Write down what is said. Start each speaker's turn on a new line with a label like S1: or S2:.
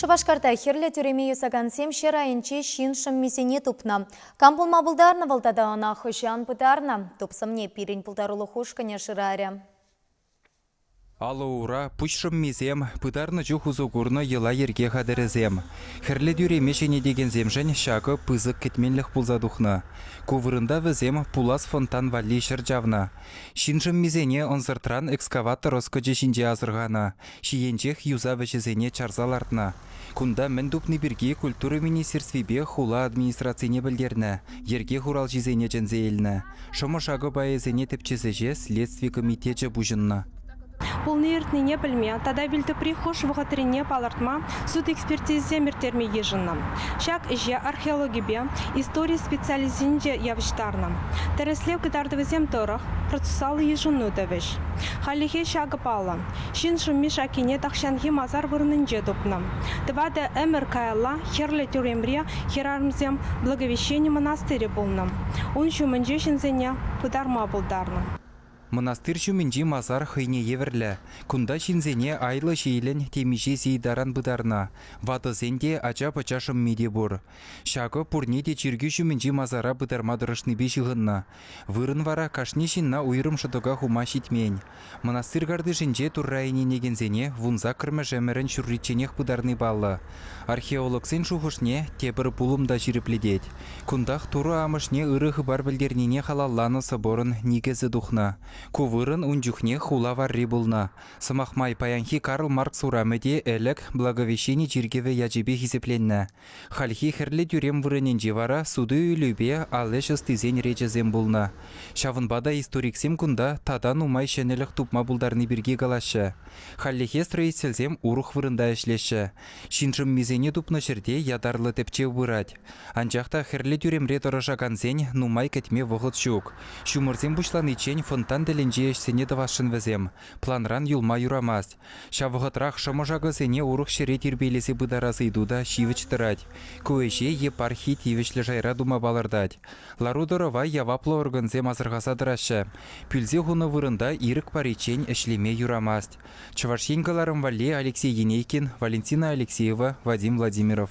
S1: Шупашкарта хӗрлӗ тӳреми юсакансем ҫӗр айӗнче ҫын шӑммисене тупнӑ. Кам пулма пултарнӑ вӑл тата ӑна хӑҫан пытарнӑ? Тупсӑмне пирӗн пултарулӑх ушкӑнӗ шырарӗ. Алӑ-ура,
S2: пуҫ шӑммисем, пытарнӑ чух усӑ курнӑ йӑла-йӗрке хатӗрӗсем. Хӗрлӗ тӳреме ҫӗнетекенсемшӗн ҫакӑ пысӑк кӗтменлӗх пулса тухнӑ. Ку вырӑнта вӗсем пулас фонтан валли ҫӗр чавнӑ. Ҫын шӑммисене ӑнсӑртран экскаватор ӑскӑчӗ ҫинче асӑрханӑ, ҫийӗнчех юсав ӗҫӗсене чарса лартнӑ. Кунта мӗн тупни пирки культура министерствипе хула администрацине пӗлтернӗ, йӗрке хуралҫисене чӗнсе илнӗ, шӑмӑ-шакӑ пайӗсене тӗпчес ӗҫе Следстви комитечӗ пуҫӑннӑ. Пулни-иртнине
S3: пӗлме тата вилтӑпри хӑш вӑхӑтрине палӑртма суд экспертизисем ирттерме йышӑннӑ. Ҫак ӗҫе археологипе истори специалисчӗсенче явӑҫтарнӑ. Тӗрӗслев кӑтартӑвӗсем тӑрӑх, процесаллӑ йышӑну тӑвӗҫ. Хальлӗхе ҫакӑ паллӑ, ҫын шӑмми-шаккине тахҫанхи масар вырӑнӗнче тупнӑ. Тӑватӑ ӗмӗр каялла Хӗрлӗ тӳремре хӗрарӑмсем Благовещени мӑнастирӗ пулнӑ. Ун ҫумӗнче ҫынсене пытарма пултарнӑ. Мӑнастир
S2: ҫумӗнчи масар хӑйне евӗрлӗ. Кунта ҫынсене айлӑ ҫиелӗн темиҫе сий таран пытарнӑ, ватӑсен те, ача-пӑча шӑмми те пур. Ҫакӑ пурне те чиркӳ ҫумӗнчи масара пытарма тӑрӑшнипе ҫыхӑннӑ. Вырӑн вара кашни ҫынна уйрӑм шӑтӑка хума ҫитмен. Мӑнастыр картишӗнче Турра ӗненекенсене вун саккӑрмӗш-ӗмӗрӗн ҫурричченех пытарни паллӑ. Археологсен шухӑшне тепӗр пулӑм та ҫирӗплетет. Кунтах Турӑ Амӑшне ырӑ хыпар пӗлтернине халалланӑ соборӑн никӗсӗ тухнӑ. Ку вырӑн ун чухнех хула варри пулнӑ. Сӑмах май, паянхи Карл Маркс урамӗ те ӗлӗк Благовещени чиркӗвӗ ячӗпе хисепленнӗ. Хальхи хӗрлӗ тӳрем вырӑнӗнче вара суту-илӳпе ал ӗҫ ӑстисен речӗсем пулнӑ. Ҫавӑнпа та историксем кунта тата нумай ҫӗнӗлӗх тупма пултарни пирки калаҫҫӗ. Хальлӗхе строительсем урӑх вырӑнта ӗҫлеҫҫӗ. Ҫын шӑммисене тупнӑ ҫӗрте ятарлӑ тӗпчев пырать. Анчах та хӗрлӗ тӳремре тӑрӑшакансен нумай кӗтме вӑхӑт ҫук. Ҫумӑрсем пуҫланиччен фонтан тӗлӗнчи ӗҫсене тӑвасшӑн вӗсем, планран юлма юрамасть. Ҫав вӑхӑтрах шӑмӑршакӑсене урӑх ҫӗре тирпейлесе пытарас ыйту та ҫивӗч тӑрать. Ку ӗҫе епархи тивӗҫлӗ шайра тума палӑртать. Лару-тӑрӑва яваплӑ органсем асӑрхаса тӑраҫҫӗ. Пӳлсе хунӑ вырӑнта ирӗк париччен ӗҫлеме юрамасть. Чӑваш Ен кӑларӑм валли Алексей Енейкин, Валентина Алексеева, Вадим Владимиров.